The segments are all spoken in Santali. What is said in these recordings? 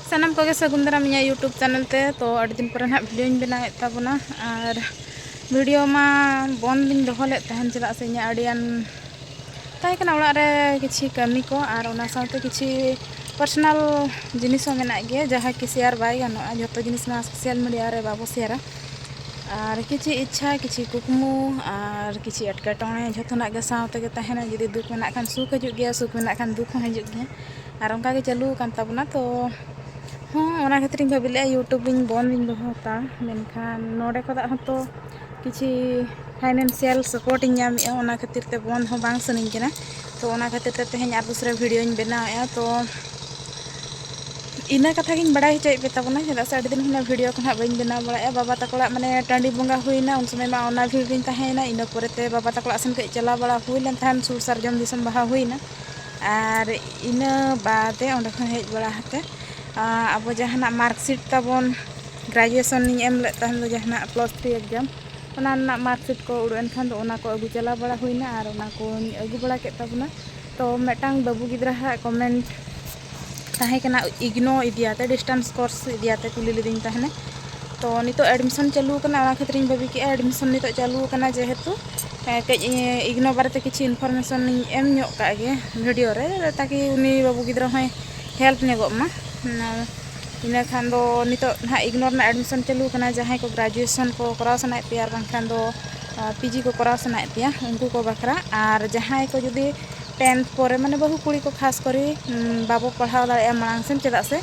ᱥᱟᱱᱟᱢ ᱠᱚᱜᱮ ᱥᱟᱹᱜᱩᱱ ᱫᱟᱨᱟᱢ ᱤᱧᱟᱹᱜ ᱤᱭᱩᱴᱩᱵᱽ ᱪᱮᱱᱮᱞ ᱛᱮ ᱛᱚ ᱟᱹᱰᱤ ᱫᱤᱱ ᱯᱚᱨᱮ ᱱᱟᱦᱟᱜ ᱵᱷᱤᱰᱤᱭᱳᱧ ᱵᱮᱱᱟᱣᱮᱫ ᱛᱟᱵᱚᱱᱟ ᱟᱨ ᱵᱷᱤᱰᱤᱭᱳ ᱢᱟ ᱵᱚᱱᱫ ᱞᱤᱧ ᱫᱚᱦᱚ ᱞᱮᱫ ᱛᱟᱦᱮᱱ ᱪᱮᱫᱟᱜ ᱥᱮ ᱤᱧᱟᱹᱜ ᱟᱹᱰᱤᱜᱟᱱ ᱛᱟᱦᱮᱸ ᱠᱟᱱᱟ ᱚᱲᱟᱜ ᱨᱮ ᱠᱤᱪᱷᱩ ᱠᱟᱹᱢᱤ ᱠᱚ ᱟᱨ ᱚᱱᱟ ᱥᱟᱶᱛᱮ ᱠᱤᱪᱷᱩ ᱯᱟᱨᱥᱚᱱᱟᱞ ᱡᱤᱱᱤᱥ ᱦᱚᱸ ᱢᱮᱱᱟᱜ ᱜᱮᱭᱟ ᱡᱟᱦᱟᱸ ᱠᱤ ᱥᱮᱭᱟᱨ ᱵᱟᱭ ᱜᱟᱱᱚᱜᱼᱟ ᱡᱚᱛᱚ ᱡᱤᱱᱤᱥ ᱢᱟ ᱥᱳᱥᱟᱞ ᱢᱤᱰᱤᱭᱟ ᱨᱮ ᱵᱟᱵᱚ ᱥᱮᱭᱟᱨᱟ ᱟᱨ ᱠᱤᱪᱷᱩ ᱤᱪᱪᱷᱟ ᱠᱤᱪᱷᱩ ᱠᱩᱠᱢᱩ ᱟᱨ ᱠᱤᱪᱷᱩ ᱮᱴᱠᱮᱴᱚᱬᱮ ᱡᱚᱛᱚᱱᱟᱜ ᱜᱮ ᱥᱟᱶ ᱛᱮᱜᱮ ᱛᱟᱦᱮᱱᱟ ᱡᱩᱫᱤ ᱫᱩᱠ ᱢᱮᱱᱟᱜ ᱠᱷᱟᱱ ᱥᱩᱠ ᱦᱤᱡᱩᱜ ᱜᱮᱭᱟ ᱥᱩᱠ ᱢᱮᱱᱟᱜ ᱠᱷᱟᱱ ᱫᱩᱠ ᱦᱚᱸ ᱦᱤᱡᱩᱜ ᱜᱮᱭᱟ ᱟᱨ ᱚᱱᱠᱟ ᱜᱮ ᱪᱟᱹᱞᱩ ᱟᱠᱟᱱ ᱛᱟᱵᱚᱱᱟ ᱛᱚ ᱦᱚᱸ ᱚᱱᱟ ᱠᱷᱟᱹᱛᱤᱨ ᱤᱧ ᱵᱷᱟᱹᱵᱤ ᱞᱮᱫᱼᱟ ᱤᱭᱩᱴᱩᱵᱽ ᱤᱧ ᱵᱚᱱᱫᱽ ᱤᱧ ᱫᱚᱦᱚ ᱦᱟᱛᱟᱲᱟ ᱢᱮᱱᱠᱷᱟᱱ ᱱᱚᱰᱮ ᱠᱷᱚᱱᱟᱜ ᱦᱚᱸᱛᱚ ᱠᱤᱪᱷᱩ ᱯᱷᱟᱭᱱᱮᱱᱥᱤᱭᱟᱞ ᱥᱟᱯᱳᱨᱴ ᱤᱧ ᱧᱟᱢᱮᱫᱼᱟ ᱚᱱᱟ ᱠᱷᱟᱹᱛᱤᱨ ᱛᱮ ᱵᱚᱱᱫᱽ ᱦᱚᱸ ᱵᱟᱝ ᱥᱟᱱᱟᱧ ᱠᱟᱱᱟ ᱛᱚ ᱚᱱᱟ ᱠᱷᱟᱹᱛᱤᱨ ᱛᱮ ᱛᱮᱦᱮᱧ ᱟᱨ ᱫᱩᱥᱨᱟ ᱵᱷᱤᱰᱤᱭᱳᱧ ᱵᱮᱱᱟᱣᱮᱫᱼᱟ ᱛᱚ ᱤᱱᱟᱹ ᱠᱟᱛᱷᱟ ᱜᱤᱧ ᱵᱟᱲᱟᱭ ᱦᱚᱪᱚᱭᱮᱫ ᱯᱮ ᱛᱟᱵᱚᱱᱟ ᱪᱮᱫᱟᱜ ᱥᱮ ᱟᱹᱰᱤ ᱫᱤᱱ ᱠᱷᱚᱱᱟᱜ ᱵᱷᱤᱰᱤᱭᱳ ᱠᱚ ᱱᱟᱦᱟᱜ ᱵᱟᱹᱧ ᱵᱮᱱᱟᱣ ᱵᱟᱲᱟᱭᱮᱫᱼᱟ ᱵᱟᱵᱟ ᱛᱟᱠᱚ ᱚᱲᱟᱜ ᱢᱟᱱᱮ ᱴᱟᱺᱰᱤ ᱵᱚᱸᱜᱟ ᱦᱩᱭᱱᱟ ᱩᱱ ᱥᱚᱢᱚᱭ ᱢᱟ ᱚᱱᱟ ᱵᱷᱤᱲ ᱨᱤᱧ ᱛᱟᱦᱮᱸᱭᱮᱱᱟ ᱤᱱᱟᱹ ᱯᱚᱨᱮᱛᱮ ᱵᱟᱵᱟ ᱛᱟᱠᱚ ᱚᱲᱟᱜ ᱥᱮᱱ ᱠᱟᱹᱡ ᱪᱟᱞᱟᱣ ᱵᱟᱲᱟ ᱦᱩᱭ ᱞᱮᱱ ᱛᱟᱦᱮᱸᱫ ᱥᱩᱨ ᱥᱟᱨᱡᱚᱢ ᱫᱤᱥᱚᱢ ᱵᱟᱦᱟ ᱦᱩᱭᱱᱟ ᱟᱨ ᱤᱱᱟᱹ ᱵᱟᱫᱮ ᱚᱸᱰᱮ ᱠᱷᱚᱱ ᱦᱮᱡ ᱵᱟᱲᱟ ᱠᱟᱛᱮᱫ ᱟᱵᱚ ᱡᱟᱦᱟᱱᱟᱜ ᱢᱟᱨᱠᱥᱤᱴ ᱛᱟᱵᱚᱱ ᱜᱨᱮᱡᱩᱭᱮᱥᱚᱱ ᱤᱧ ᱮᱢ ᱞᱮᱫ ᱛᱟᱦᱮᱱ ᱫᱚ ᱡᱟᱦᱟᱱᱟᱜ ᱯᱞᱟᱥ ᱛᱷᱨᱤ ᱮᱠᱡᱟᱢ ᱚᱱᱟ ᱨᱮᱱᱟᱜ ᱢᱟᱨᱠᱥᱤᱴ ᱠᱚ ᱩᱰᱩᱠ ᱮᱱ ᱠᱷᱟᱱ ᱫᱚ ᱚᱱᱟ ᱠᱚ ᱟᱹᱜᱩ ᱪᱟᱞᱟᱣ ᱵᱟᱲᱟ ᱦᱩᱭᱱᱟ ᱟᱨ ᱚᱱᱟ ᱠᱚᱧ ᱟᱹᱜᱩ ᱵᱟᱲᱟ ᱠᱮᱫ ᱛᱟᱵᱚᱱᱟ ᱛᱚ ᱢᱤᱫᱴᱟᱝ ᱵᱟᱹᱵᱩ ᱜᱤᱫᱽᱨᱟᱹ ᱦᱟᱜ ᱠᱚᱢᱮᱱᱴ ᱛᱟᱦᱮᱸ ᱠᱟᱱᱟ ᱤᱜᱽᱱᱳ ᱤᱫᱤᱭᱟᱛᱮ ᱰᱤᱥᱴᱮᱱᱥ ᱠᱳᱨᱥ ᱤᱫᱤᱭᱟᱛᱮ ᱠᱩᱞᱤ ᱞᱤᱫᱤᱧ ᱛᱟᱦᱮᱱᱮ ᱛᱚ ᱱᱤᱛᱚᱜ ᱮᱰᱢᱤᱥᱚᱱ ᱪᱟᱹᱞᱩ ᱟᱠᱟᱱᱟ ᱚᱱᱟ ᱠᱷᱟᱹᱛᱤᱨ ᱤᱧ ᱵᱷᱟᱹᱵᱤ ᱠᱮᱫᱼᱟ ᱮᱰᱢᱤᱥᱚᱱ ᱱᱤᱛᱚᱜ ᱪᱟᱹᱞᱩ ᱟᱠᱟᱱᱟ ᱡᱮᱦᱮᱛᱩ ᱦᱮᱸ ᱠᱟᱹᱡ ᱤᱜᱱᱳ ᱵᱟᱨᱮᱛᱮ ᱠᱤᱪᱷᱩ ᱤᱱᱯᱷᱚᱨᱢᱮᱥᱚᱱ ᱤᱧ ᱮᱢ ᱧᱚᱜ ᱠᱟᱜ ᱜᱮ ᱵᱷᱤᱰᱤᱭᱳ ᱨᱮ ᱛᱟᱠᱤ ᱩᱱᱤ ᱵᱟᱹᱵᱩ ᱜᱤᱫᱽᱨᱟᱹ ᱦᱚᱸᱭ ᱦᱮᱞᱯ ᱧᱚᱜᱚᱜ ᱢᱟ ᱤᱱᱟᱹ ᱠᱷᱟᱱ ᱫᱚ ᱱᱤᱛᱚᱜ ᱱᱟᱦᱟᱜ ᱤᱜᱱᱳ ᱨᱮᱱᱟᱜ ᱮᱰᱢᱤᱥᱚᱱ ᱪᱟᱹᱞᱩ ᱠᱟᱱᱟ ᱡᱟᱦᱟᱸᱭ ᱠᱚ ᱜᱨᱮᱡᱩᱭᱮᱥᱚᱱ ᱠᱚ ᱠᱚᱨᱟᱣ ᱥᱟᱱᱟᱭᱮᱫ ᱯᱮᱭᱟ ᱟᱨ ᱵᱟᱝᱠᱷᱟᱱ ᱫᱚ ᱯᱤ ᱡᱤ ᱠᱚ ᱠᱚᱨᱟᱣ ᱥᱟᱱᱟᱭᱮᱫ ᱯᱮᱭᱟ ᱩᱱᱠᱩ ᱠᱚ ᱵᱟᱠᱷᱨᱟ ᱟᱨ ᱡᱟᱦᱟᱸᱭ ᱠᱚ ᱡᱩᱫᱤ ᱴᱮᱱᱛᱷ ᱯᱚᱨᱮ ᱢᱟᱱᱮ ᱵᱟᱹᱦᱩ ᱠᱩᱲᱤ ᱠᱚ ᱠᱷᱟᱥ ᱠᱚᱨᱮ ᱵᱟᱵᱚ ᱯᱟᱲᱦᱟᱣ ᱫᱟᱲᱮᱭᱟᱜᱼᱟ ᱢᱟᱲᱟᱝ ᱥᱮᱱ ᱪᱮᱫᱟᱜ ᱥᱮ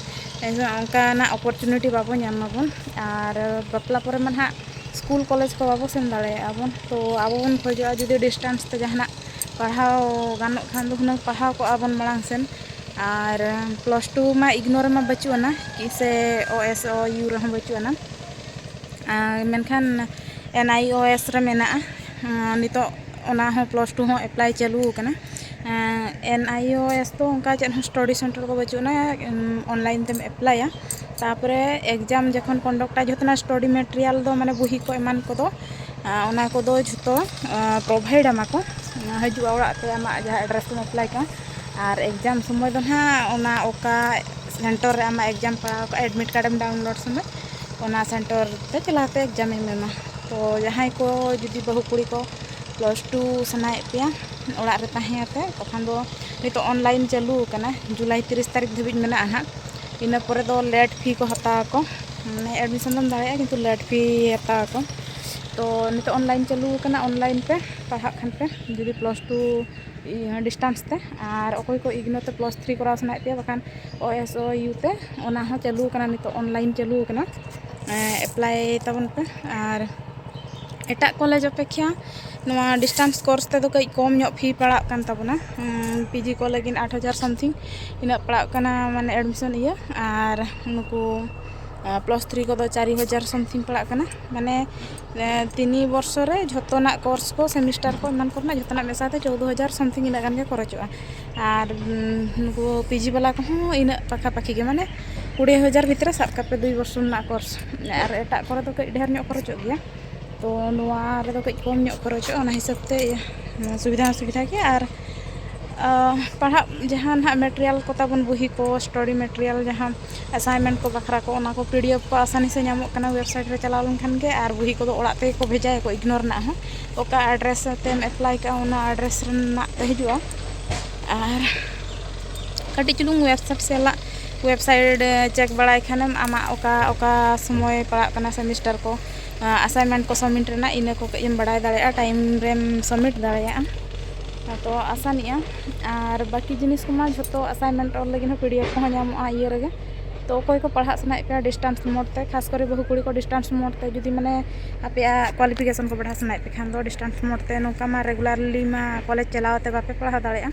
ᱚᱱᱠᱟᱱᱟᱜ ᱚᱯᱚᱨᱪᱩᱱᱤᱴᱤ ᱵᱟᱵᱚ ᱧᱟᱢ ᱢᱟᱵᱚᱱ ᱟᱨ ᱵᱟᱯᱞᱟ ᱯᱚᱨᱮ ᱢᱟ ᱱᱟᱦᱟᱜ ᱥᱠᱩᱞ ᱠᱚᱞᱮᱡᱽ ᱠᱚ ᱵᱟᱵᱚ ᱥᱮᱱ ᱫᱟᱲᱮᱭᱟᱜᱼᱟ ᱵᱚᱱ ᱛᱚ ᱟᱵᱚ ᱵᱚᱱ ᱠᱷᱚᱡᱚᱜᱼᱟ ᱡᱩᱫᱤ ᱰᱤᱥᱴᱮᱱᱥ ᱛᱮ ᱡᱟᱦᱟᱱᱟᱜ ᱯᱟᱲᱦᱟᱣ ᱜᱟᱱᱚᱜ ᱠᱷᱟᱱ ᱫᱚ ᱦᱩᱱᱟᱹᱝ ᱯᱟᱲᱦᱟᱣ ᱠᱚᱜᱼᱟ ᱵᱚᱱ ᱢᱟᱲᱟᱝ ᱥᱮᱱ ᱟᱨ ᱯᱞᱟᱥ ᱴᱩ ᱢᱟ ᱤᱜᱽᱱᱳᱨ ᱨᱮᱢᱟ ᱵᱟᱹᱪᱩᱜ ᱟᱱᱟ ᱥᱮ ᱳ ᱮᱥ ᱳ ᱤᱭᱩ ᱨᱮᱦᱚᱸ ᱵᱟᱹᱪᱩᱜ ᱟᱱᱟ ᱟᱨ ᱢᱮᱱᱠᱷᱟᱱ ᱮᱱ ᱟᱭ ᱳ ᱮᱥ ᱨᱮ ᱢᱮᱱᱟᱜᱼᱟ ᱱᱤᱛᱚᱜ ᱚᱱᱟ ᱦᱚᱸ ᱯᱞᱟᱥ ᱴᱩ ᱦᱚᱸ ᱮᱯᱞᱟᱭ ᱪᱟᱹᱞᱩ ᱟᱠᱟᱱᱟ ᱮᱱ ᱟᱭ ᱳ ᱮᱥ ᱫᱚ ᱚᱱᱠᱟ ᱪᱮᱫ ᱦᱚᱸ ᱥᱴᱟᱰᱤ ᱥᱮᱱᱴᱟᱨ ᱠᱚ ᱵᱟᱹᱪᱩᱜ ᱟᱱᱟ ᱚᱱᱞᱟᱭᱤᱱ ᱛᱮᱢ ᱮᱯᱞᱟᱭᱟ ᱛᱟᱯᱚᱨᱮ ᱮᱠᱡᱟᱢ ᱡᱚᱠᱷᱚᱱ ᱠᱚᱱᱰᱚᱠᱴᱟ ᱡᱚᱛᱚᱱᱟᱜ ᱥᱴᱟᱰᱤ ᱢᱮᱴᱮᱨᱤᱭᱟᱞ ᱫᱚ ᱢᱟᱱᱮ ᱵᱩᱦᱤ ᱠᱚ ᱮᱢᱟᱱ ᱠᱚᱫᱚ ᱚᱱᱟ ᱠᱚᱫᱚ ᱡᱷᱚᱛᱚ ᱯᱨᱚᱵᱷᱟᱭᱤᱰ ᱟᱢᱟ ᱠᱚ ᱦᱤᱡᱩᱜᱼᱟ ᱚᱲᱟᱜ ᱛᱮ ᱟᱢᱟᱜ ᱡᱟᱦᱟᱸ ᱮᱰᱨᱮᱥ ᱛᱮᱢ ᱮᱯᱞᱟᱭ ᱠᱟᱜᱼᱟ ᱟᱨ ᱮᱠᱡᱟᱢ ᱥᱚᱢᱚᱭ ᱫᱚ ᱦᱟᱸᱜ ᱚᱱᱟ ᱚᱠᱟ ᱥᱮᱱᱴᱚᱨ ᱨᱮ ᱟᱢᱟᱜ ᱮᱠᱡᱟᱢ ᱯᱟᱲᱟᱣ ᱠᱚᱜᱼᱟ ᱮᱰᱢᱤᱴ ᱠᱟᱨᱰ ᱮᱢ ᱰᱟᱣᱩᱱᱞᱳᱰ ᱥᱚᱢᱚᱭ ᱚᱱᱟ ᱥᱮᱱᱴᱚᱨ ᱛᱮ ᱪᱟᱞᱟᱣ ᱠᱟᱛᱮ ᱮᱠᱡᱟᱢ ᱮᱢ ᱮᱢᱟ ᱛᱚ ᱡᱟᱦᱟᱸᱭ ᱠᱚ ᱡᱩᱫᱤ ᱵᱟᱹᱦᱩ ᱠᱩᱲᱤ ᱠᱚ ᱯᱞᱟᱥ ᱴᱩ ᱥᱟᱱᱟᱭᱮᱫ ᱯᱮᱭᱟ ᱚᱲᱟᱜ ᱨᱮ ᱛᱟᱦᱮᱸ ᱠᱟᱛᱮ ᱛᱚᱠᱷᱚᱱ ᱫᱚ ᱱᱤᱛᱚᱜ ᱚᱱᱞᱟᱭᱤᱱ ᱪᱟᱹᱞᱩ ᱠᱟᱱᱟ ᱡᱩᱞᱟᱭ ᱛᱤᱨᱤᱥ ᱛᱟᱹᱨᱤᱠᱷ ᱫᱷᱟᱹᱵᱤᱡ ᱢᱮᱱᱟᱜᱼᱟ ᱦᱟᱸᱜ ᱤᱱᱟᱹ ᱯᱚᱨᱮ ᱫᱚ ᱞᱮᱴ ᱯᱷᱤ ᱠᱚ ᱦᱟᱛᱟᱣ ᱟᱠᱚ ᱢᱟᱱᱮ ᱮᱰᱢᱤᱥᱚᱱ ᱫᱚᱢ ᱫᱟᱲᱮᱭᱟᱜᱼᱟ ᱠᱤᱱᱛᱩ ᱞᱮᱴ ᱯᱷᱤ ᱦᱟᱛᱟᱣ ᱟᱠᱚ ᱛᱚ ᱱᱤᱛᱚᱜ ᱚᱱᱞᱟᱭᱤᱱ ᱪᱟᱹᱞᱩ ᱟᱠᱟᱱᱟ ᱚᱱᱞᱟᱭᱤᱱ ᱯᱮ ᱯᱟᱲᱦᱟᱜ ᱠᱷᱟᱱ ᱯᱮ ᱡᱩᱫᱤ ᱯᱞᱟᱥ ᱴᱩ ᱰᱤᱥᱴᱟᱱᱥ ᱛᱮ ᱟᱨ ᱚᱠᱚᱭ ᱠᱚ ᱤᱜᱽᱱᱳ ᱛᱮ ᱯᱞᱟᱥ ᱛᱷᱨᱤ ᱠᱚᱨᱟᱣ ᱥᱟᱱᱟᱭᱮᱫ ᱯᱮᱭᱟ ᱵᱟᱠᱷᱟᱱ ᱳ ᱮᱥ ᱳ ᱤᱭᱩ ᱛᱮ ᱚᱱᱟ ᱦᱚᱸ ᱪᱟᱹᱞᱩ ᱟᱠᱟᱱᱟ ᱱᱤᱛᱚᱜ ᱚᱱᱞᱟᱭᱤᱱ ᱪᱟᱹᱞᱩ ᱟᱠᱟᱱᱟ ᱮᱯᱞᱟᱭ ᱛᱟᱵᱚᱱ ᱯᱮ ᱟᱨ ᱮᱴᱟᱜ ᱠᱚᱞᱮᱡᱽ ᱚᱯᱮᱠᱠᱷᱟ ᱱᱚᱣᱟ ᱰᱤᱥᱴᱟᱱᱥ ᱠᱳᱨᱥ ᱛᱮᱫᱚ ᱠᱟᱹᱡ ᱠᱚᱢ ᱧᱚᱜ ᱯᱷᱤ ᱯᱟᱲᱟᱜ ᱠᱟᱱ ᱛᱟᱵᱚᱱᱟ ᱯᱤ ᱡᱤ ᱠᱚ ᱞᱟᱹᱜᱤᱫ ᱟᱴ ᱦᱟᱡᱟᱨ ᱥᱟᱢᱛᱷᱤᱝ ᱤᱱᱟᱹᱜ ᱯᱟᱲᱟᱜ ᱠᱟᱱᱟ ᱢᱟᱱᱮ ᱮᱰᱢᱤᱥᱚᱱ ᱤᱭᱟᱹ ᱟᱨ ᱱᱩᱠᱩ ᱯᱞᱟᱥ ᱛᱷᱨᱤ ᱠᱚᱫᱚ ᱪᱟᱨᱤ ᱦᱟᱡᱟᱨ ᱥᱟᱢᱛᱷᱤᱝ ᱯᱟᱲᱟᱜ ᱠᱟᱱᱟ ᱢᱟᱱᱮ ᱛᱤᱱᱤ ᱵᱚᱨᱥᱚ ᱨᱮ ᱡᱷᱚᱛᱚᱱᱟᱜ ᱠᱳᱨᱥ ᱠᱚ ᱥᱮᱢᱤᱥᱴᱟᱨ ᱠᱚ ᱮᱢᱟᱱ ᱠᱚᱨᱮᱱᱟᱜ ᱡᱷᱚᱛᱚᱱᱟᱜ ᱢᱮᱥᱟ ᱛᱮ ᱪᱳᱫᱽᱫᱳ ᱦᱟᱡᱟᱨ ᱥᱟᱢᱛᱷᱤᱝ ᱤᱱᱟᱹᱜ ᱜᱟᱱ ᱜᱮ ᱠᱷᱚᱨᱚᱪᱚᱜᱼᱟ ᱟᱨ ᱱᱩᱠᱩ ᱯᱤ ᱡᱤ ᱵᱟᱞᱟ ᱠᱚᱦᱚᱸ ᱤᱱᱟᱹᱜ ᱯᱟᱠᱷᱟ ᱯᱟᱠᱷᱤ ᱜᱮ ᱢᱟᱱᱮ ᱠᱩᱲᱤ ᱦᱟᱡᱟᱨ ᱵᱷᱤᱛᱨᱤ ᱨᱮ ᱥᱟᱵ ᱠᱟᱜ ᱯᱮ ᱫᱩᱭ ᱵᱚᱨᱥᱚ ᱨᱮᱱᱟᱜ ᱠᱳᱨᱥ ᱟᱨ ᱮᱴᱟᱜ ᱠᱚᱨᱮ ᱫᱚ ᱠᱟᱹᱡ ᱰᱷᱮᱨ ᱧᱚᱜ ᱠᱷᱚᱨᱚᱪᱚᱜ ᱜᱮᱭᱟ ᱛᱚ ᱱᱚᱣᱟ ᱨᱮᱫᱚ ᱠᱟᱹᱡ ᱠᱚᱢ ᱧᱚᱜ ᱠᱷᱚᱨᱚᱪᱚᱜᱼᱟ ᱚᱱᱟ ᱦᱤᱥᱟᱹᱵ ᱛᱮ ᱥᱩᱵᱤᱫᱷᱟ ᱦᱚᱸ ᱥᱩᱵᱤᱫᱷᱟ ᱜᱮᱭᱟ ᱟᱨ ᱯᱟᱲᱦᱟᱜ ᱡᱟᱦᱟᱸ ᱱᱟᱦᱟᱜ ᱢᱮᱴᱮᱨᱤᱭᱟᱞ ᱠᱚ ᱛᱟᱵᱚᱱ ᱵᱩᱦᱤ ᱠᱚ ᱥᱴᱚᱰᱤ ᱢᱮᱴᱮᱨᱤᱭᱟᱞ ᱡᱟᱦᱟᱸ ᱮᱥᱟᱭᱤᱱᱢᱮᱱᱴ ᱠᱚ ᱵᱟᱠᱷᱨᱟ ᱠᱚ ᱚᱱᱟ ᱠᱚ ᱯᱤ ᱰᱤ ᱮᱯᱷ ᱠᱚ ᱟᱥᱟᱱᱤ ᱥᱮ ᱧᱟᱢᱚᱜ ᱠᱟᱱᱟ ᱳᱭᱮᱵᱽᱥᱟᱭᱤᱴ ᱨᱮ ᱪᱟᱞᱟᱣ ᱞᱮᱱᱠᱷᱟᱱ ᱜᱮ ᱟᱨ ᱵᱩᱦᱤ ᱠᱚᱫᱚ ᱚᱲᱟᱜ ᱛᱮᱜᱮ ᱠᱚ ᱵᱷᱮᱡᱟᱭᱟ ᱠᱚ ᱤᱜᱽᱱᱳᱨ ᱨᱮᱱᱟᱜ ᱦᱚᱸ ᱚᱠᱟ ᱟᱰᱨᱮᱥ ᱟᱛᱮᱢ ᱮᱯᱞᱟᱭ ᱠᱟᱜᱼᱟ ᱚᱱᱟ ᱟᱰᱨᱮᱥ ᱨᱮᱱᱟᱜ ᱛᱮ ᱦᱤᱡᱩᱜᱼᱟ ᱟᱨ ᱠᱟᱹᱴᱤᱡ ᱪᱩᱞᱩᱝ ᱳᱭᱮᱵᱽᱥᱟᱭᱤᱴ ᱥᱟᱞᱟᱜ ᱳᱭᱮᱵᱽᱥᱟᱭᱤᱴ ᱪᱮᱠ ᱵᱟᱲᱟᱭ ᱠᱷᱟᱱᱮᱢ ᱟᱢᱟᱜ ᱚᱠᱟ ᱚᱠᱟ ᱥᱚᱢᱚᱭ ᱯᱟᱲᱟᱜ ᱠᱟᱱᱟ ᱥᱮᱢᱤᱥᱴᱟᱨ ᱠᱚ ᱟᱥᱟᱭᱤᱱᱢᱮᱱᱴ ᱠᱚ ᱥᱟᱵᱽᱢᱤᱴ ᱨᱮᱱᱟᱜ ᱤᱱᱟᱹ ᱠᱚ ᱠᱟᱹᱡ ᱮᱢ ᱵᱟᱲᱟᱭ ᱫᱟᱲᱮᱭᱟᱜᱼᱟ ᱴᱟᱭᱤᱢ ᱨᱮᱢ ᱥᱟᱵᱽᱢᱤᱴ ᱫᱟᱲᱮᱭᱟᱜᱼᱟ ᱟᱫᱚ ᱟᱥᱟᱱᱚᱜᱼᱟ ᱟᱨ ᱵᱟᱹᱠᱤ ᱡᱤᱱᱤᱥ ᱠᱚᱢᱟ ᱡᱷᱚᱛᱚ ᱟᱥᱟᱭᱤᱱᱢᱮᱱᱴ ᱚᱞ ᱞᱟᱹᱜᱤᱫ ᱦᱚᱸ ᱯᱤ ᱰᱤ ᱮᱯᱷ ᱠᱚᱦᱚᱸ ᱧᱟᱢᱚᱜᱼᱟ ᱤᱭᱟᱹ ᱨᱮᱜᱮ ᱛᱚ ᱚᱠᱚᱭ ᱠᱚ ᱯᱟᱲᱦᱟᱜ ᱥᱟᱱᱟᱭᱮᱫ ᱯᱮᱭᱟ ᱰᱤᱥᱴᱮᱱᱥ ᱢᱳᱰ ᱛᱮ ᱠᱷᱟᱥ ᱠᱚᱨᱮ ᱵᱟᱹᱦᱩ ᱠᱩᱲᱤ ᱠᱚ ᱰᱤᱥᱴᱮᱱᱥ ᱢᱳᱰ ᱛᱮ ᱡᱩᱫᱤ ᱢᱟᱱᱮ ᱟᱯᱮᱭᱟᱜ ᱠᱚᱣᱟᱞᱤᱯᱷᱤᱠᱮᱥᱚᱱ ᱠᱚ ᱵᱟᱲᱦᱟᱣ ᱥᱟᱱᱟᱭᱮᱫ ᱯᱮᱠᱷᱟᱱ ᱫᱚ ᱰᱤᱥᱴᱮᱱᱥ ᱢᱳᱰ ᱛᱮ ᱱᱚᱝᱠᱟ ᱢᱟ ᱨᱮᱜᱩᱞᱟᱨᱞᱤ ᱢᱟ ᱠᱚᱞᱮᱡᱽ ᱪᱟᱞᱟᱣ ᱠᱟᱛᱮᱫ ᱵᱟᱯᱮ ᱯᱟᱲᱦᱟᱣ ᱫᱟᱲᱮᱭᱟᱜᱼᱟ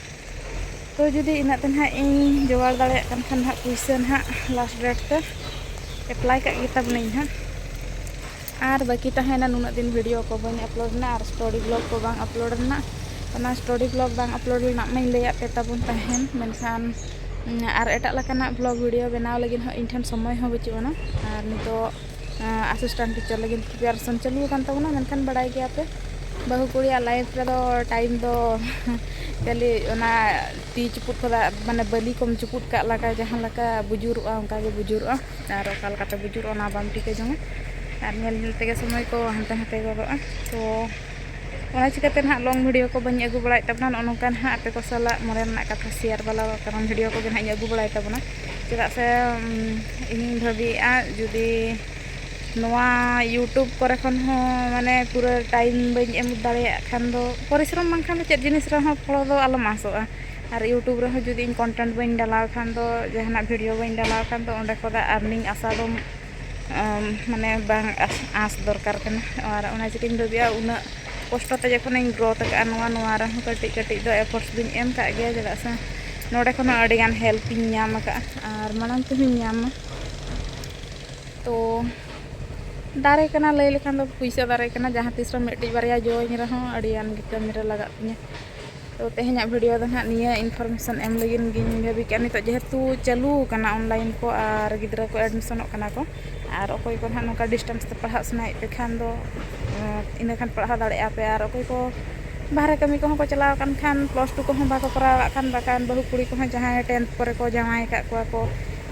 ᱛᱚ ᱡᱩᱫᱤ ᱤᱱᱟᱹᱜ ᱛᱮ ᱱᱟᱦᱟᱜ ᱤᱧ ᱡᱚᱜᱟᱲ ᱫᱟᱲᱮᱭᱟᱜ ᱠᱟᱱ ᱠᱷᱟᱱ ᱱᱟᱦᱟᱜ ᱯᱩᱭᱥᱟᱹ ᱱᱟᱦᱟᱜ ᱞᱟᱥᱴ ᱰᱮᱴ ᱛᱮ ᱮᱯᱞᱟᱭ ᱠᱟᱜ ᱜᱮ ᱛᱟᱵᱚᱱᱟᱹᱧ ᱱᱟᱦᱟᱜ ᱟᱨ ᱵᱟᱹᱠᱤ ᱛᱟᱦᱮᱸᱭᱮᱱᱟ ᱱᱩᱱᱟᱹᱜ ᱫᱤᱱ ᱵᱷᱤᱰᱤᱭᱳ ᱠᱚ ᱵᱟᱹᱧ ᱟᱯᱞᱳᱰ ᱞᱮᱱᱟ ᱟᱨ ᱥᱴᱳᱨᱤ ᱵᱞᱚᱜᱽ ᱠᱚ ᱵᱟᱝ ᱟᱯᱞᱳᱰ ᱞᱮᱱᱟ ᱚᱱᱟ ᱥᱴᱳᱨᱤ ᱵᱞᱚᱜᱽ ᱵᱟᱝ ᱟᱯᱞᱳᱰ ᱞᱮᱱᱟ ᱢᱟᱧ ᱞᱟᱹᱭᱟᱫ ᱯᱮ ᱛᱟᱵᱚᱱ ᱛᱟᱦᱮᱱ ᱢᱮᱱᱠᱷᱟᱱ ᱟᱨ ᱮᱴᱟᱜ ᱞᱮᱠᱟᱱᱟᱜ ᱵᱞᱚᱜᱽ ᱵᱷᱤᱰᱤᱭᱳ ᱵᱮᱱᱟᱣ ᱞᱟᱹᱜᱤᱫ ᱦᱚᱸ ᱤᱧ ᱴᱷᱮᱱ ᱥᱚᱢᱚᱭ ᱦᱚᱸ ᱵᱟᱹᱪᱩᱜ ᱟᱱᱟ ᱟᱨ ᱱᱤᱛᱳᱜ ᱟᱥᱤᱥᱴᱮᱱᱴ ᱴᱤᱪᱟᱨ ᱞᱟᱹᱜᱤᱫ ᱯᱨᱤᱯᱟᱨᱮᱥᱚᱱ ᱪᱟᱹᱞᱩ ᱟᱠᱟᱱ ᱛᱟᱵᱚᱱᱟ ᱢᱮᱱᱠᱷᱟᱱ ᱵᱟᱲᱟᱭ ᱜᱮᱭᱟᱯᱮ ᱵᱟᱹᱦᱩ ᱠᱩᱲᱤᱭᱟᱜ ᱞᱟᱭᱤᱯᱷ ᱨᱮᱫᱚ ᱴᱟᱭᱤᱢ ᱫᱚ ᱠᱷᱟᱹᱞᱤ ᱚᱱᱟ ᱛᱤ ᱪᱩᱯᱩᱫ ᱠᱷᱚᱱᱟᱜ ᱢᱟᱱᱮ ᱵᱟᱹᱞᱤ ᱠᱚᱢ ᱪᱩᱯᱩᱫ ᱠᱟᱜ ᱞᱮᱠᱟ ᱡᱟᱦᱟᱸ ᱞᱮᱠᱟ ᱵᱩᱡᱩᱨᱚᱜᱼᱟ ᱚᱱᱠᱟ ᱜᱮ ᱵᱩᱡᱩᱨᱚᱜᱼᱟ ᱟᱨ ᱚᱠᱟ ᱞᱮᱠᱟᱛᱮ ᱵᱩᱡᱩᱨᱚᱜᱼᱟ ᱚᱱᱟ ᱵᱟᱢ ᱴᱷᱤᱠᱟᱹ ᱡᱚᱝᱟ ᱟᱨ ᱧᱮᱞ ᱧᱮᱞ ᱛᱮᱜᱮ ᱥᱚᱢᱚᱭ ᱠᱚ ᱦᱟᱱᱛᱮ ᱱᱟᱛᱮ ᱜᱚᱫᱚᱜᱼᱟ ᱛᱚ ᱚᱱᱟ ᱪᱤᱠᱟᱹᱛᱮ ᱱᱟᱦᱟᱜ ᱞᱚᱝ ᱵᱷᱤᱰᱤᱭᱳ ᱠᱚ ᱵᱟᱹᱧ ᱟᱹᱜᱩ ᱵᱟᱲᱟᱭᱮᱫ ᱛᱟᱵᱚᱱᱟ ᱱᱚᱜᱼᱚ ᱱᱚᱝᱠᱟ ᱱᱟᱦᱟᱜ ᱟᱯᱮ ᱠᱚ ᱥᱟᱞᱟᱜ ᱢᱚᱱᱮ ᱨᱮᱱᱟᱜ ᱠᱟᱛᱷᱟ ᱥᱮᱭᱟᱨ ᱵᱟᱞᱟ ᱠᱟᱨᱚᱱ ᱵᱷᱤᱰᱤᱭᱳ ᱠᱚᱜᱮ ᱱᱟᱦᱟᱜ ᱤᱧ ᱟᱹᱜᱩ ᱵᱟᱲᱟᱭ ᱛᱟᱵᱚᱱᱟ ᱪᱮᱫᱟᱜ ᱥᱮ ᱤᱧᱤᱧ ᱵᱷᱟᱹᱵᱤᱭᱮᱫᱼᱟ ᱡᱩᱫᱤ ᱱᱚᱣᱟ ᱤᱭᱩᱴᱩᱵᱽ ᱠᱚᱨᱮ ᱠᱷᱚᱱ ᱦᱚᱸ ᱢᱟᱱᱮ ᱯᱩᱨᱟᱹ ᱴᱟᱭᱤᱢ ᱵᱟᱹᱧ ᱮᱢ ᱫᱟᱲᱮᱭᱟᱜ ᱠᱷᱟᱱ ᱫᱚ ᱯᱚᱨᱤᱥᱨᱚᱢ ᱵᱟᱝᱠᱷᱟᱱ ᱫᱚ ᱪᱮᱫ ᱡᱤᱱᱤᱥ ᱨᱮᱦᱚᱸ ᱯᱷᱚᱞᱚ ᱫᱚ ᱟᱞᱚᱢ ᱟᱥᱚᱜᱼᱟ ᱟᱨ ᱤᱭᱩᱴᱩᱵᱽ ᱨᱮᱦᱚᱸ ᱡᱩᱫᱤ ᱤᱧ ᱠᱚᱱᱴᱮᱱᱴ ᱵᱟᱹᱧ ᱰᱟᱞᱟᱣ ᱠᱷᱟᱱ ᱫᱚ ᱡᱟᱦᱟᱱᱟᱜ ᱵᱷᱤᱰᱭᱳ ᱵᱟᱹᱧ ᱰᱟᱞᱟᱣ ᱠᱷᱟᱱ ᱫᱚ ᱚᱸᱰᱮ ᱠᱷᱚᱱᱟᱜ ᱟᱨᱱᱤᱝ ᱟᱥᱟ ᱫᱚ ᱢᱟᱱᱮ ᱵᱟᱝ ᱟᱸᱥ ᱫᱚᱨᱠᱟᱨ ᱠᱟᱱᱟ ᱟᱨ ᱚᱱᱟ ᱪᱤᱠᱟᱹᱧ ᱵᱷᱟᱹᱵᱤᱭᱟ ᱩᱱᱟᱹᱜ ᱠᱚᱥᱴᱚ ᱛᱮ ᱡᱚᱠᱷᱚᱱᱤᱧ ᱜᱨᱳᱛᱷ ᱟᱠᱟᱫᱼᱟ ᱱᱚᱣᱟ ᱱᱚᱣᱟ ᱨᱮᱦᱚᱸ ᱠᱟᱹᱴᱤᱡ ᱠᱟᱹᱴᱤᱡ ᱫᱚ ᱮᱯᱷᱳᱨᱴ ᱫᱚᱧ ᱮᱢ ᱟᱠᱟᱫ ᱜᱮᱭᱟ ᱪᱮᱫᱟᱜ ᱥᱮ ᱱᱚᱰᱮ ᱠᱷᱚᱱ ᱦᱚᱸ ᱟᱹᱰᱤᱜᱟᱱ ᱦᱮᱞᱯ ᱤᱧ ᱧᱟᱢ ᱟᱠᱟᱫᱼᱟ ᱟᱨ ᱢᱟᱲᱟᱝ ᱛᱮᱦᱚᱸᱧ ᱧᱟᱢᱟ ᱛᱳ ᱫᱟᱨᱮ ᱠᱟᱱᱟ ᱞᱟᱹᱭ ᱞᱮᱠᱷᱟᱱ ᱫᱚ ᱯᱚᱭᱥᱟ ᱫᱟᱨᱮ ᱠᱟᱱᱟ ᱡᱟᱦᱟᱸ ᱛᱤᱥ ᱨᱮᱦᱚᱸ ᱢᱤᱫᱴᱤᱡ ᱵᱟᱨᱭᱟ ᱡᱚ ᱟᱹᱧ ᱨᱮᱦᱚᱸ ᱟᱹᱰᱤᱜᱟᱱ ᱜᱮ ᱠᱟᱹᱢᱤᱨᱮ ᱞᱟᱜᱟᱜ ᱛᱤᱧᱟᱹ ᱛᱚ ᱛᱮᱦᱮᱧᱟᱜ ᱵᱷᱤᱰᱤᱭᱳ ᱫᱚ ᱱᱟᱦᱟᱜ ᱱᱤᱭᱟᱹ ᱤᱱᱯᱷᱚᱨᱢᱮᱥᱚᱱ ᱮᱢ ᱞᱟᱹᱜᱤᱫ ᱜᱤᱧ ᱵᱷᱟᱹᱵᱤ ᱠᱮᱫᱼᱟ ᱱᱤᱛᱚᱜ ᱡᱮᱦᱮᱛᱩ ᱪᱟᱹᱞᱩ ᱟᱠᱟᱱᱟ ᱚᱱᱞᱟᱭᱤᱱ ᱠᱚ ᱟᱨ ᱜᱤᱫᱽᱨᱟᱹ ᱠᱚ ᱮᱰᱢᱤᱥᱚᱱᱚᱜ ᱠᱟᱱᱟ ᱠᱚ ᱟᱨ ᱚᱠᱚᱭ ᱠᱚ ᱱᱟᱦᱟᱜ ᱱᱚᱝᱠᱟ ᱰᱤᱥᱴᱮᱱᱥ ᱛᱮ ᱯᱟᱲᱦᱟᱜ ᱥᱟᱱᱟᱭᱮᱫ ᱯᱮ ᱠᱷᱟᱱ ᱫᱚ ᱤᱱᱟᱹ ᱠᱷᱟᱱ ᱯᱟᱲᱦᱟᱣ ᱫᱟᱲᱮᱭᱟᱜ ᱟᱯᱮ ᱟᱨ ᱚᱠᱚᱭ ᱠᱚ ᱵᱟᱦᱨᱮ ᱠᱟᱹᱢᱤ ᱠᱚᱦᱚᱸ ᱠᱚ ᱪᱟᱞᱟᱣ ᱟᱠᱟᱱ ᱠᱷᱟᱱ ᱯᱞᱟᱥ ᱴᱩ ᱠᱚᱦᱚᱸ ᱵᱟᱠᱚ ᱠᱚᱨᱟᱣ ᱠᱟᱜ ᱠᱷᱟᱱ ᱵᱟᱠᱷᱟᱱ ᱵᱟᱹᱦᱩ ᱠᱩᱲᱤ ᱠᱚᱦᱚᱸ ᱡᱟᱦᱟᱸᱭ ᱴᱮᱱᱛᱷ ᱠᱚᱨᱮ ᱠᱚ ᱡᱟᱶᱟᱭ ᱟᱠᱟᱫ ᱠᱚᱣᱟ ᱠᱚ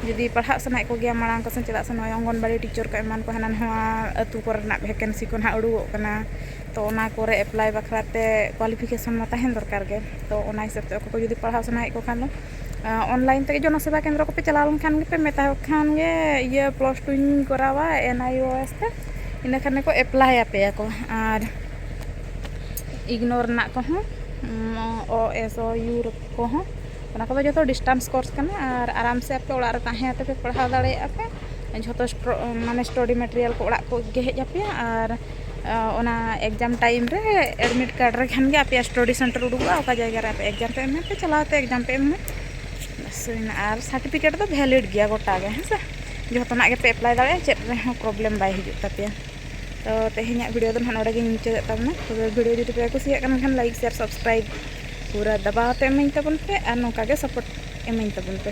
ᱡᱩᱫᱤ ᱯᱟᱲᱦᱟᱜ ᱥᱟᱱᱟᱭᱮᱫ ᱠᱚᱜᱮᱭᱟ ᱢᱟᱲᱟᱝ ᱠᱚᱥᱮᱱ ᱪᱮᱫᱟᱜ ᱥᱮ ᱱᱚᱜᱼᱚᱭ ᱚᱝᱜᱚᱱᱚᱣᱟᱲᱤ ᱴᱤᱪᱟᱨ ᱠᱚ ᱮᱢᱟᱱ ᱠᱚ ᱦᱟᱱᱟ ᱱᱚᱣᱟ ᱟᱹᱛᱩ ᱠᱚᱨᱮᱱᱟᱜ ᱵᱷᱮᱠᱮᱱᱥᱤ ᱠᱚ ᱱᱟᱦᱟᱜ ᱩᱰᱩᱠᱚᱜ ᱠᱟᱱᱟ ᱛᱚ ᱚᱱᱟ ᱠᱚᱨᱮ ᱮᱯᱞᱟᱭ ᱵᱟᱠᱷᱨᱟ ᱛᱮ ᱠᱚᱣᱟᱞᱤᱯᱷᱤᱠᱮᱥᱚᱱ ᱢᱟ ᱛᱟᱦᱮᱱ ᱫᱚᱨᱠᱟᱨ ᱜᱮ ᱛᱚ ᱚᱱᱟ ᱦᱤᱥᱟᱹᱵ ᱛᱮ ᱚᱠᱚᱭ ᱠᱚ ᱡᱩᱫᱤ ᱯᱟᱲᱦᱟᱣ ᱥᱟᱱᱟᱭᱮᱫ ᱠᱚ ᱠᱷᱟᱱ ᱫᱚ ᱚᱱᱞᱟᱭᱤᱱ ᱛᱮᱜᱮ ᱡᱚᱱᱚ ᱥᱮᱵᱟ ᱠᱮᱱᱫᱨᱚ ᱠᱚᱯᱮ ᱪᱟᱞᱟᱣ ᱞᱮᱱᱠᱷᱟᱱ ᱜᱮᱯᱮ ᱢᱮᱛᱟ ᱠᱚ ᱠᱷᱟᱱ ᱜᱮ ᱤᱭᱟᱹ ᱯᱞᱟᱥ ᱴᱩᱧ ᱠᱚᱨᱟᱣᱟ ᱮᱱ ᱟᱭ ᱳ ᱮᱥ ᱛᱮ ᱤᱱᱟᱹ ᱠᱷᱟᱱ ᱜᱮᱠᱚ ᱮᱯᱞᱟᱭ ᱟᱯᱮᱭᱟ ᱠᱚ ᱟᱨ ᱤᱜᱽᱱᱳᱨ ᱨᱮᱱᱟᱜ ᱠᱚᱦᱚᱸ ᱳ ᱮᱥ ᱳ ᱤᱭᱩ ᱠᱚᱦᱚᱸ ᱚᱱᱟ ᱠᱚᱫᱚ ᱡᱚᱛᱚ ᱰᱤᱥᱴᱟᱱᱥ ᱠᱳᱨᱥ ᱠᱟᱱᱟ ᱟᱨ ᱟᱨᱟᱢ ᱥᱮ ᱟᱯᱮ ᱚᱲᱟᱜ ᱨᱮ ᱛᱟᱦᱮᱸ ᱠᱟᱛᱮ ᱯᱮ ᱯᱟᱲᱦᱟᱣ ᱫᱟᱲᱮᱭᱟᱜᱼᱟ ᱯᱮ ᱡᱷᱚᱛᱚ ᱢᱟᱱᱮ ᱥᱴᱚᱰᱤ ᱢᱮᱴᱮᱨᱤᱭᱟᱞ ᱠᱚ ᱚᱲᱟᱜ ᱠᱚ ᱜᱮ ᱦᱮᱡ ᱟᱯᱮᱭᱟ ᱟᱨ ᱚᱱᱟ ᱮᱠᱡᱟᱢ ᱴᱟᱭᱤᱢ ᱨᱮ ᱮᱰᱢᱤᱴ ᱠᱟᱨᱰ ᱨᱮ ᱠᱷᱟᱱ ᱜᱮ ᱟᱯᱮᱭᱟᱜ ᱥᱴᱚᱰᱤ ᱥᱮᱱᱴᱟᱨ ᱩᱰᱩᱠᱚᱜᱼᱟ ᱚᱠᱟ ᱡᱟᱭᱜᱟ ᱨᱮ ᱟᱯᱮ ᱮᱠᱡᱟᱢ ᱯᱮ ᱮᱢᱟ ᱯᱮ ᱪᱟᱞᱟᱣ ᱠᱟᱛᱮ ᱮᱠᱡᱟᱢ ᱯᱮ ᱮᱢᱟ ᱵᱟᱥ ᱦᱩᱭᱱᱟ ᱟᱨ ᱥᱟᱨᱴᱤᱯᱷᱤᱠᱮᱴ ᱫᱚ ᱵᱷᱮᱞᱤᱰ ᱜᱮᱭᱟ ᱜᱚᱴᱟ ᱜᱮ ᱦᱮᱸ ᱥᱮ ᱡᱚᱛᱚᱱᱟᱜ ᱜᱮᱯᱮ ᱮᱯᱞᱟᱭ ᱫᱟᱲᱮᱭᱟᱜᱼᱟ ᱪᱮᱫ ᱨᱮᱦᱚᱸ ᱯᱨᱚᱵᱞᱮᱢ ᱵᱟᱭ ᱦᱤᱡᱩᱜ ᱛᱟᱯᱮᱭᱟ ᱛᱚ ᱛᱮᱦᱮᱧᱟᱜ ᱵᱷᱤᱰᱤᱭᱳ ᱫᱚ ᱱᱟᱦᱟᱜ ᱱᱚᱰᱮ ᱜᱤᱧ ᱢᱩᱪᱟᱹᱫᱮᱫ ᱛᱟᱵᱚᱱᱟ ᱛᱚᱵᱮ ᱵᱷᱤᱰᱤᱭᱳ ᱡᱩᱫᱤ ᱯᱮ ᱠᱩᱥᱤᱭᱟᱜ ᱠᱟᱱ ᱠᱷᱟᱱ ᱞᱟᱭᱤᱠ ᱥᱮᱭᱟᱨ ᱥᱟᱵᱥᱠᱨᱟᱭᱤᱵ ᱯᱩᱨᱟᱹ ᱫᱟᱵᱟᱣ ᱛᱮ ᱮᱢᱟᱹᱧ ᱛᱟᱵᱚᱱ ᱯᱮ ᱟᱨ ᱱᱚᱝᱠᱟ ᱜᱮ ᱥᱟᱯᱳᱨᱴ ᱮᱢᱟᱹᱧ ᱛᱟᱵᱚᱱ ᱯᱮ